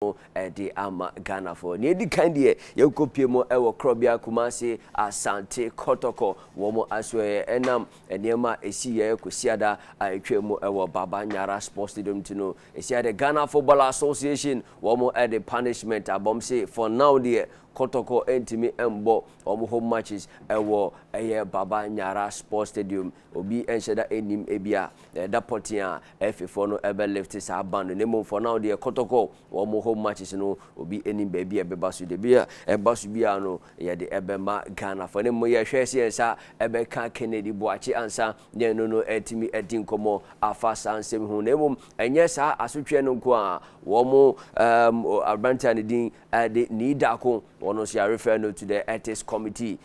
no de ama Ghanafoɔ. Nea ɛdi kan deɛ, yɛnkɔpie mu wɔ Korɔbea Kumasi, Asante Kɔtɔkɔ. Wɔn asoɛeɛ nam nneɛma a ɛsiiɛ Kwasiada a ɛtwaa mu wɔ Baba Nyara Sports Stadium nti no. Ɛsiane deɛ Ghana Football Association wɔn de punishment aba wɔn se for now deɛ, Kɔtɔkɔ ntumi mmɔ wɔn home matches wɔ ɛyɛ Baba Nyara Sports Stadium. Obi nhyɛ da nnim ebia na ɛda pɔtee a ɛfefoɔ no bɛ lifte saa ban no na mmom for now deɛ kɔtɔkɔ wɔn mo home matches no obi nnim baabi a ɛbɛba so deɛ bia ɛba so biara no yɛde ɛbɛma Ghanafoɔ na mmom yɛhwɛ sɛ yɛn nsa ɛbɛka Kennedy Boakye ansa na ɛno no atumi adi nkɔmmɔ afa saa nsɛm ho na mmom ɛnyɛ saa asotweɛ no nko a wɔn um, aberanteɛ a ne din ɛde nii daako wɔn nso yɛarefɛ no to the ethics committee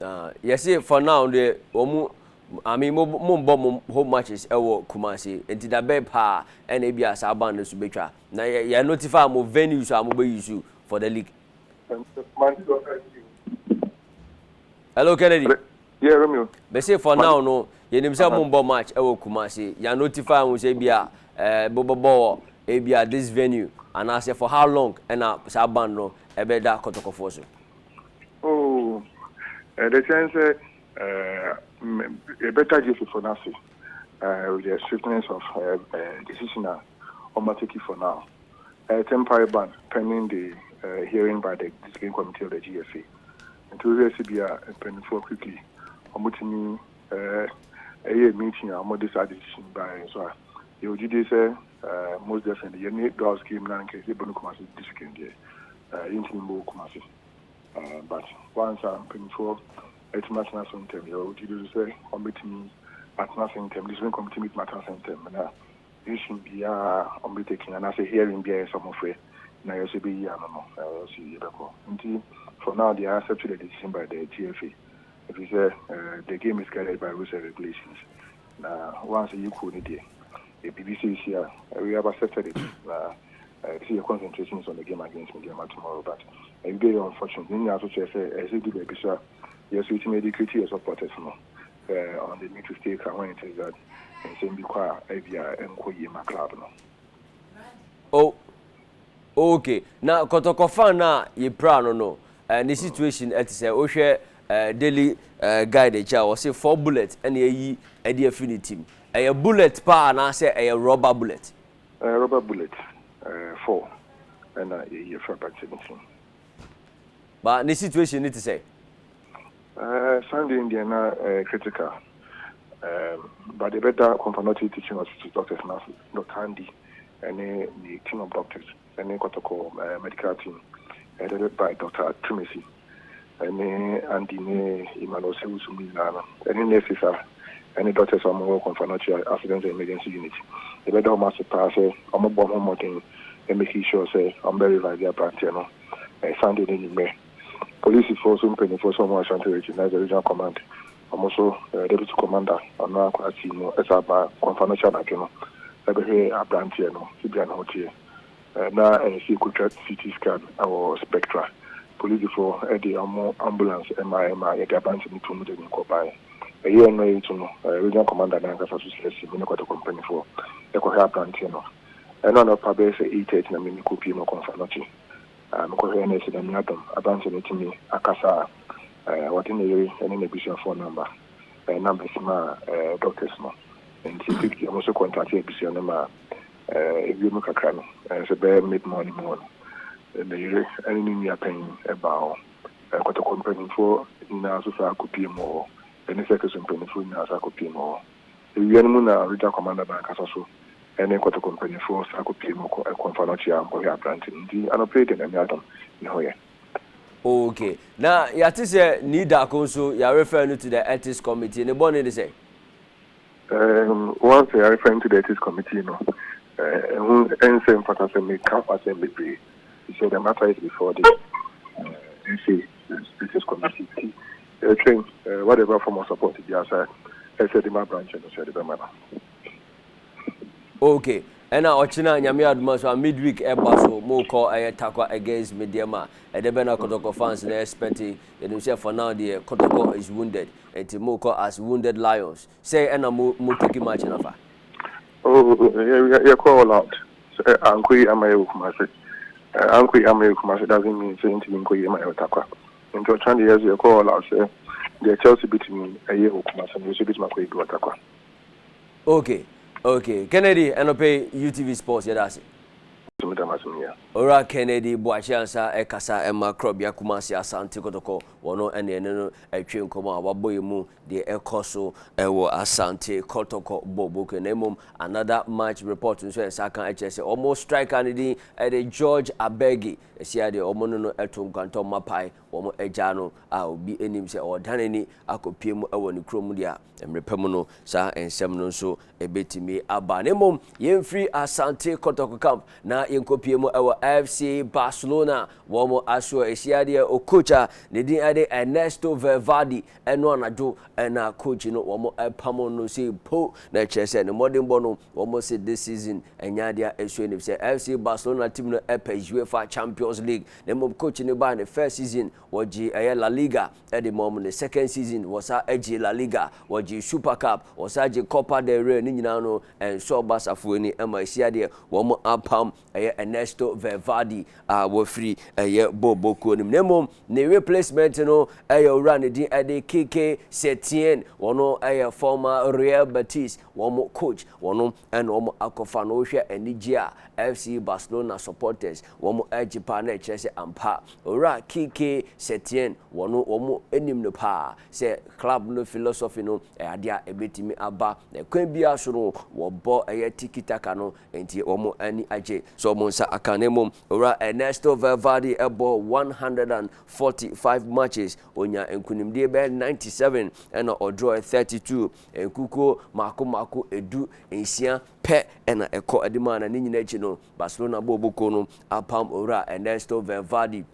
Ah yɛse for now deɛ wɔn I mean mo mo mbɔ mo home matches ɛwɔ Kumasi nti da bɛn paa ɛna ebi a saa band no so betwa na yɛ yɛ notify mo venues a mo bɛ use for the league. Hello Kennedy. Yeah Romeo. Mese for now no yɛnim sɛ mo mbɔ match ɛwɔ Kumasi yɛ notify mo sɛ ebi a ɛɛ mo bɛ bɔ wɔ ebi a this venue anaasɛ for how long ɛna saa band no ɛbɛ da kɔtɔkɔfoɔ so. Oh, ɛde kyɛn sɛ yɛbɛda Jesusfo no ase with the sweetness of decision a wɔatake for now. Ɛte mpae ban pending the hearing by the discipline committee of the GFA. Nti wohwɛ si bi a mpanyinfoɔ quickly wɔtumi ɛyɛ meeting a wɔde saa decision baeɛ nso a yɛwɔ gyidie sɛ most definitely yɛne Dawes came na anka yɛbɔ no Kumasi district deɛ Yɛntumi mmɔɔ Kumasi but once a mpaninfoɔ atumi atena ase ntɛm yɛwɔ gyidie so sɛ wɔn bɛtumi atena ase ntɛm decision committee bɛtumi atena ase ntɛm na decision biara wɔn bɛ taking anaasɛ hearing biara yɛsɛ wɔn frɛ na yɛsɛ bɛyi ano no yɛsɛ yɛbɛkɔ nti for now they are accepting the decision by the TFA ɛfiri sɛ the game is guided by rules and regulations Na once yɛ kuo no deɛ yɛ biribi seesei a we have accepted it na ɛsɛ sɛ yɛ concentrating is on the game against Medeama tomorrow but ɛbi bɛyɛ unfortunate ne nyinaa so kyerɛ sɛ ɛsɛ sɛ du baabi so a yɛ so yɛtumi educate yɛ supporters no uh, on the need to stay calm when it is that nsɛm bi kɔ a ɛbi a ɛnkɔ yie ma club no. Oh. okay na kɔtɔkɔ fan no a yɛpira no no uh, ne situation ɛte sɛ wohwɛ Daily Guide akyi a, wɔse four bullet na ayi de afiri ne tim. Ɛyɛ bullet paa anaasɛ ɛyɛ rɔba bullet? Ɛyɛ rɔba bullet four na ayi afiri aberanteɛ no tim. Ba ne situation no te sɛn? Sunday no deɛ na ɛyɛ critical but yɛbɛda Kwamparnɔte Teaching Hospital doctors no ase, Doctor Andy ne ne team of doctors. ne Kotoko Medical Team headed by Doctor Twumasi ne Andy ne Emmanuel Ose-Owusu mu nyinaa no ne nurses a ɛne doctors a wɔwɔ Komfo-Anokye Accident and Emergency Unit. Yɛbɛda wɔn ase paa sɛ wɔbɔɔ ho mmɔden making sure sɛ wɔbɛ revive aberanteɛ no Sunday no anwummerɛ. Polisifo nso mpaninfoɔ sɛ wɔn wɔ Ashanti Region na ɛyɛ Regional Command. Ɔno nso Deputy Commander a ɔno ara koraa tii mu san baa Nkwamfa no kyɛ anadwo no bɛhwɛɛ aberanteɛ no sɛdeɛ ne ho teɛ. Na ɛyɛ sɛ yɛkɔtwa CT scan wɔ Spectra. Polisifoɔ de wɔn ambulance maeɛ maa yɛde aberanteɛ no too mu de no kɔbaeɛ. Ɛyɛɛ mmerɛ a yɛretu no, Regional Commander no ankasa nso srɛɛ sɛ me ne Kwadwokuo mpanimfoɔ nkɔhwɛ aberanteɛ no. Ɛno a na ɔpa bɛyɛ sɛ eight thirty na me ne kɔpue mu kɔmfa no kye. a mekɔhwɛɛ no asi Nyame adom aba nso metumi akasa a wɔde ne yere ne n'abusuafoɔ nɔmba nam bɛsi maa doctors no nti quickly ɔmo nso kɔntakte abusua no maa ɛwie mu kakra no nso bɛyɛ mid morning mu hɔ no ne yere ne ne nua panyin baa hɔ kɔtɔkɔ mpaninfoɔ nyinaa nso saa kɔpie mu wɔ hɔ ne circles mpaninfoɔ nyinaa nso akɔpie mu wɔ hɔ. Ewia no mu na Regya Kɔmanda bɛankasa so ne Kotoko mpanyimfo san kopiee mu kɔ ɛko Mfanokyia a Mpɔhwɛ Aberante no dii anɔpa yi de Nyame adom ne ho yɛ. Ok, na yɛate sɛ Nidaco nso yɛ refer no to the Ethics Committee, ne bɔne ne sɛn? Erm, once yɛ refer no to the Ethics Committee no, ɛho nsɛ mfata sɛ me ka ho asɛm bebree, efisɛ the matter is before the Ethics Committee. Yɛtwɛn whatever form of support biara sɛ ɛsɛ de ma branch no sɛ yɛde bɛma no. Ok ɛna ɔkyena nyame adom a so a mid week ɛba so mo kɔ ɛyɛ Tarkwa against Medeɛma ɛdɛ bɛn na Kɔtɔkɔ fans no expect yɛnim sɛ for now deɛ Kɔtɔkɔ is wounded nti mo kɔ as wounded lions Sɛ ɛna mo mo turkey march no fa. Oh yɛ kɔ all out sɛ ankɔ yie ama yɛ wɔ Kumasi eh ankɔ yie ama yɛ wɔ Kumasi doesn't mean sɛ ɛntumi nkɔ yie ma yɛ wɔ Tarkwa nti ɔkyena deɛ yɛso yɛ kɔ all out sɛ deɛ Chelsea bɛtumi ɛyɛ wɔ Kumasi no yɛso yɛbɛtumi akɔ yɛ bi wɔ Tarkwa. Okay okay Kennedy ɛnɔpɛ yi UTV sports yɛda ase. Medam ase meyɛ. Owura Kennedy Boakye Ansah ɛkasa ɛma Krɔbea Kumasi Asante Kɔtɔkɔ Wɔn ne ɛne no retwe nkɔmmɔ a wɔabɔ yi mu deɛ ɛkɔ so wɔ Asante Kɔtɔkɔ Boboke na mmom another match report nso nsa ka kyerɛ sɛ wɔn striker no din de George Abegi ɛsia deɛ wɔn ne no to nkwantɔ mapae wɔn agya no a obi anim sɛ ɔredane ni akɔpie mu wɔ ne kurom deɛ a Mmerɛ pa mu no, saa nsɛm no nso bɛtumi aba. Na mmom, yɛmfiri Asante Kotoko Camp na yɛnkɔpie mu wɔ FC Barcelona wɔn asoɔ ɛsiadeɛ o coach a ne din de Ernesto Valverde ɛno anadwo na coach no wɔn pamo no sɛ po na ɛkyerɛ sɛ ne mmɔdenbɔ no wɔn se this season ɛnyɛ adeɛ a ɛsue no sɛ FC Barcelona team no ɛpɛ UEFA Champions League na mmom coach no baa ne first season Wɔgyee ɛyɛ La Liga de maa wɔn ne second season wɔsa gyee La Liga, wɔgyee Super Cup, wɔsa gyee Copa del Rey ne nyinaa no ɛnsɔɔ Barca foɔ ani ma ɛsi adeɛ wɔn apam ɛyɛ Ernesto Valverde a wafiri ɛyɛ Bobo kuo no mu na mmom ne replacement no ɛyɛ owura ne din ɛde Kike Setien wɔn ɛyɛ former Real Betis wɔn coach wɔn ɛna wɔn akɔfa no wohwɛ anigye a FC Barcelona supporters wɔn regye paa na ɛkyerɛ sɛ ampa Owura Kike Setien wɔ no wɔn nim no paa sɛ club no philosophy no ɛyɛ adeɛ a ɛbɛtumi aba na ɛkwan biara so no wɔbɔ ɛyɛ tiki taka no nti wɔn ani agye sɛ wɔn nsa aka no mmom Owura Ernesto Valverde ɛbɔ 145 matches ɔnya nkunimdie bɛyɛ 97 ɛna ɔdrɔɛ 32 Nkukuo mmaako mmaako du nsia pɛ na ɛkɔ anim a na ne nyinaa akyi no, Barcelona bɔɔl bu kuo no apam owura Ernesto Valverde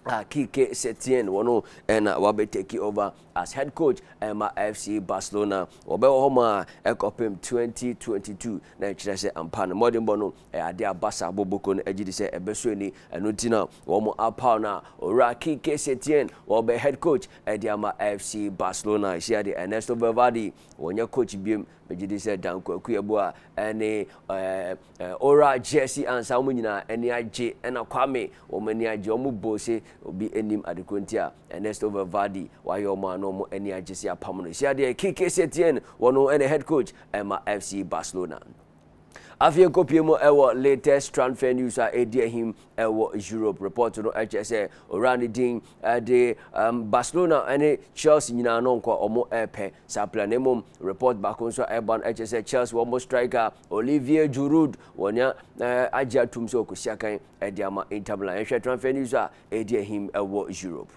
a Kike Setien wɔn na wabɛ take over as head coach ɛma FC Barcelona. Wɔbɛwɔ hɔ ma ɛkɔpem 2022 na ɛkyerɛ sɛ ampa no mmɔdenbɔ no ɛyɛ adeɛ a Barca bɔɔl bu kuo no agye di sɛ ɛbɛsɔ ani. Ɛno nti na wɔn apaw no a owura Kike Setien wɔbɛ head coach. de ama FC Barcelona ahyia de Ernesto Valverde wɔnyɛ coach biom megye di sɛ Dan Kwaku Abua ne ɛɛ Ora Jesse Ansa wɔn nyinaa ani agye ɛna Kwame wɔn ani agye wɔn bɔ se obi anim adekoro nti a Ernesto Valverde wayɛ wɔn ano wɔn ani agye se apam no hyia deɛ Kike Setien wɔn ɛna head coach ɛma FC Barcelona. Afei yɛnkɔpie mu wɔ latest transfer news a ɛdi ahim wɔ Europe. Report no kyerɛ sɛ owura no din de um, Barcelona ne Chelsea nyinaa no nkɔ wɔn ɛrepɛ saa player no. Mmom report baako nso a ɛba no kyerɛ sɛ Chelsea wɔn striker Olivier Giroud wɔn agye atum sɛ ɔkɔsi akan de ama Inter Milan. Yɛhwɛ transfer news a ɛdi ahim wɔ Europe.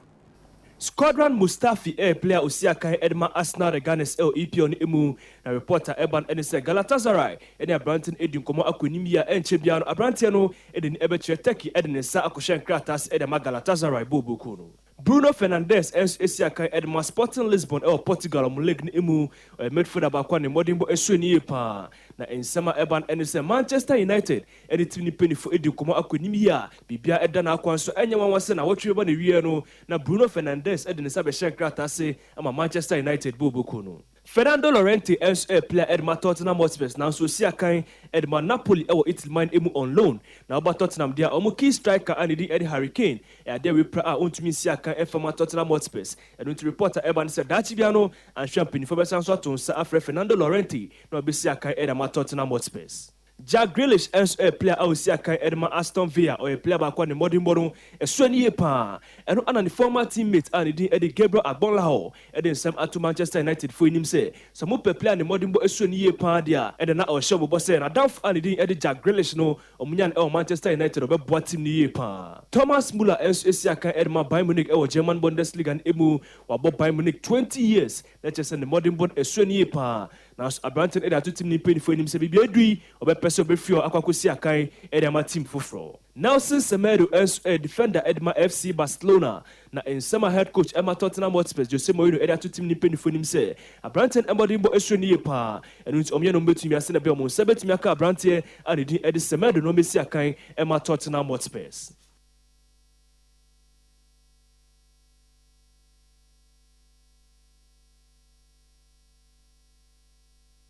Squadran Mustafi ɛyɛ player a osi akan de ma Arsenal ne Gunners wɔ EPL no mu, na report a ɛreba no ne sɛ Galatasaray ne aberante no adi nkɔmmɔ akɔ anim yi a ɛnkyɛ biara no aberanteɛ no de n'ani bɛkyerɛ Turkey de ne nsa akɔhyɛ nkrataa ase de ama Galatasaray booboo kuo no. Bruno Fernandes nso asi akan de ma Sporting Lisbon wɔ Portugal wɔn league no mu, ɔyɛ midfielder baako a ne mmɔdenbɔ sua no yie pa ara, na nsɛm a ɛreba no ne sɛ Manchester United Ɛno nti ne mpanyimfo di nkɔmmɔ akɔ anim yi a biribiara da n'akwan so. Ɛnyɛ nwanwa sɛ nnawɔtwe reba n'awiei no na Bruno Fernandes de ne nsa bɛhyɛɛ nkrataa ase ama Manchester United bɔɔl bokuw no. Fernando Llorente nso yɛ playa a de ma Tottenham Hotspurs nanso ɔsi akan de ma Napoli wɔ Italy man mu on loan. Na woba Tottenham deɛ a, wɔn key striker a ne din de Harry Kane yɛ adeɛ a wɔapira a ɔntumi nsi akan mfa mma Tottenham Hotspurs. Ɛno nti report a ɛreba ne sɛ daakye biara no anhwɛ a mpanyimfo bɛsan nso ato nsa afrɛ Fernando Llorente na wabɛsi akan de ama Tottenham Hotspurs. Jack Grealish nso yɛ player a ɔsi akan de ma Aston Villa, ɔyɛ player baako a ne mmɔdenbɔ no so ani yie pa ara. Ɛno ara na ne former team mate a ne din de Gabriel Agbonlahor de nsɛm ato Manchester United fo anim sɛ, sɛ mopɛ player a ne mmɔdenbɔ so ani yie pa ara deɛ a, ɛnna na ɔrehyɛ wɔn bɔ sɛ n'adamfo a ne din de Jack Grealish no, wɔnya no wɔ Manchester United a, ɔbɛboa team no yie pa ara. Thomas Muller nso si akan de ma Bayern Munich wɔ German Bundesliga no mu, wabɔ Bayern Munich twenty years, na kyerɛ sɛ ne mmɔdenbɔ no so ani yie pa ara. Nanso aberante no de ato tim no mpanyimfo anim sɛ biribi adu yi, ɔbɛpɛ sɛ ɔbɛfi hɔ akɔ akɔsi akan de ama tim foforɔ. Nelson Semedo nso yɛ defender de ma FC Barcelona, na nsɛm a head coach ma Tottenham Hotspurs Jose Mourinho de ato tim no mpanyimfo anim sɛ aberanteɛ no mmɔdenbɔ suro no yie pa ara, ɛno nti wɔyɛ ne wɔn bɛtumi ase na bia wɔn nsa bɛtumi aka aberanteɛ a ne din de Semedo no ɔmmɛsi akan mma Tottenham Hotspurs.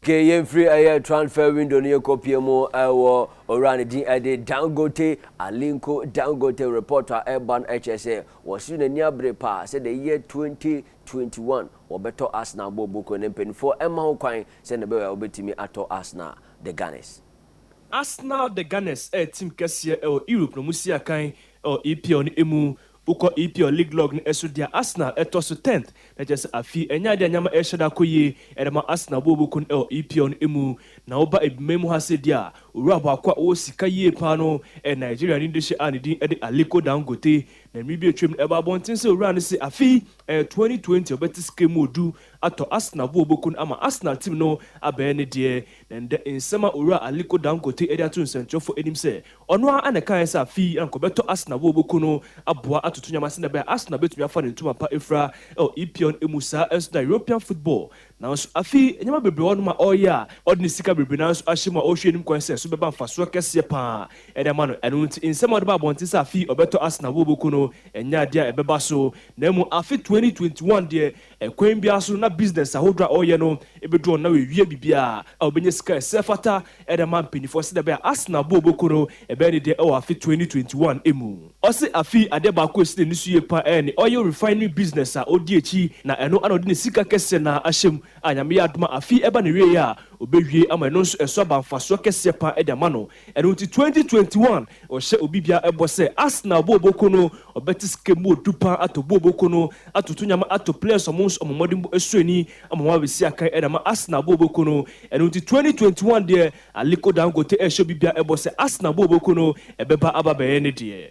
Ke yɛmfiri ɛyɛ transfer window no yɛkɔpie mu ɛwɔ owura ne din ɛde Dangote Alinko Dangote report a ɛba no ɛkyerɛ sɛ wɔsiri n'ani abere paa sɛ the year 2021 wɔbɛtɔ Arsenal bɔ boko ne mpanimfoɔ ɛma ho kwan sɛ ne bɛyɛ a wɔbɛtumi atɔ Arsenal the Gunners. Arsenal the Gunners ɛyɛ team kɛseɛ ɛwɔ Europe na wɔsi akan ɛwɔ EPL no ɛmu Wokɔ EPL league log no so de a, Arsenal tɔ so tenth, na kyerɛ sɛ afei ɛnyɛ ade a nneɛma rehyɛ da kɔ yie de ma Arsenal bo a wɔbɛku no wɔ EPL no mu. Na woba Ebiman mu ha sɛ de a, owura baako a ɔwɔ sika yie pa ara no yɛ Nigeriani de hyɛ a ne din de Aliko Dangote. Na mmere bi a atwam no ɛbaa abɔnten sɛ owura no se afei ɛyɛ twenty twenty a ɔbɛte sika mu odu atɔ Arsenal bo a wɔbɛku no ama Arsenal team no abɛyɛ ne deɛ. Na ɛnnɛ nsɛm a owura Aliko Dangote de ato nsɛntwerɛfoɔ anim sɛ Ɔno ara na ɛkae sɛ afei na nkɔbɛtɔ Arsenal wɔ Woku no aboa atoto nnwom ase na ɛbɛyɛ a Arsenal betumi afa ne ntoma pa afura wɔ EPL mu saa nso na European football nanso afei nneɛma bebree wɔ hɔnom a ɔreyɛ a ɔde ne sika bebree no ara nso ahyɛ mu a ɔhwɛ anim kwan sɛ ɛso bɛba mfasoɔ kɛseɛ pa ara de ama no ɛno nti nsɛm a ɔde ba abɔnten sɛ afei ɔbɛtɔ Arsenal wɔ Woku no ɛnyɛ adeɛ a ɛbɛba so na mmom afe 2021 deɛ Ɛkwan biara so na business ahodoɔ a ɔreyɛ no bɛdu ɔno na wawie biribiara a ɔbɛnya sika a ɛsɛ ɛfata de ama mpaninfoɔ sɛdeɛ ɛbɛyɛ a Arsenal bɔɔl bɔku no bɛyɛ ne deɛ wɔ afe twenty twenty one mu. Ɔse afei adeɛ baako a ɛsi n'ani so yie paa ɛyɛ ne oil refinery business a ɔdi akyi na ɛno na ɔde ne sika kɛseɛ no ara ahyɛ mu a Nyame yɛ adom a afei ɛba n'awieɛ a ɔbɛwie ama ɛno nso ɛso aba mfasoɔ kɛseɛ paa de ama no. Ɛno nti twenty twenty one ɔhyɛ obi biara bɔ sɛ Arsenal booboko no ɔbɛte sika mu odu paa atɔ booboko no atoto nyama ato players ɔmo nso ɔmo mmɔden bɔ ɛsɔ ani ama ɔmo abɛsi akan ɛna ama Arsenal booboko no ɛno nti twenty twenty one deɛ Aliko Dangote ɛhyɛ obi biara bɔ sɛ Arsenal booboko no ɛbɛba aba abɛyɛ ne deɛ.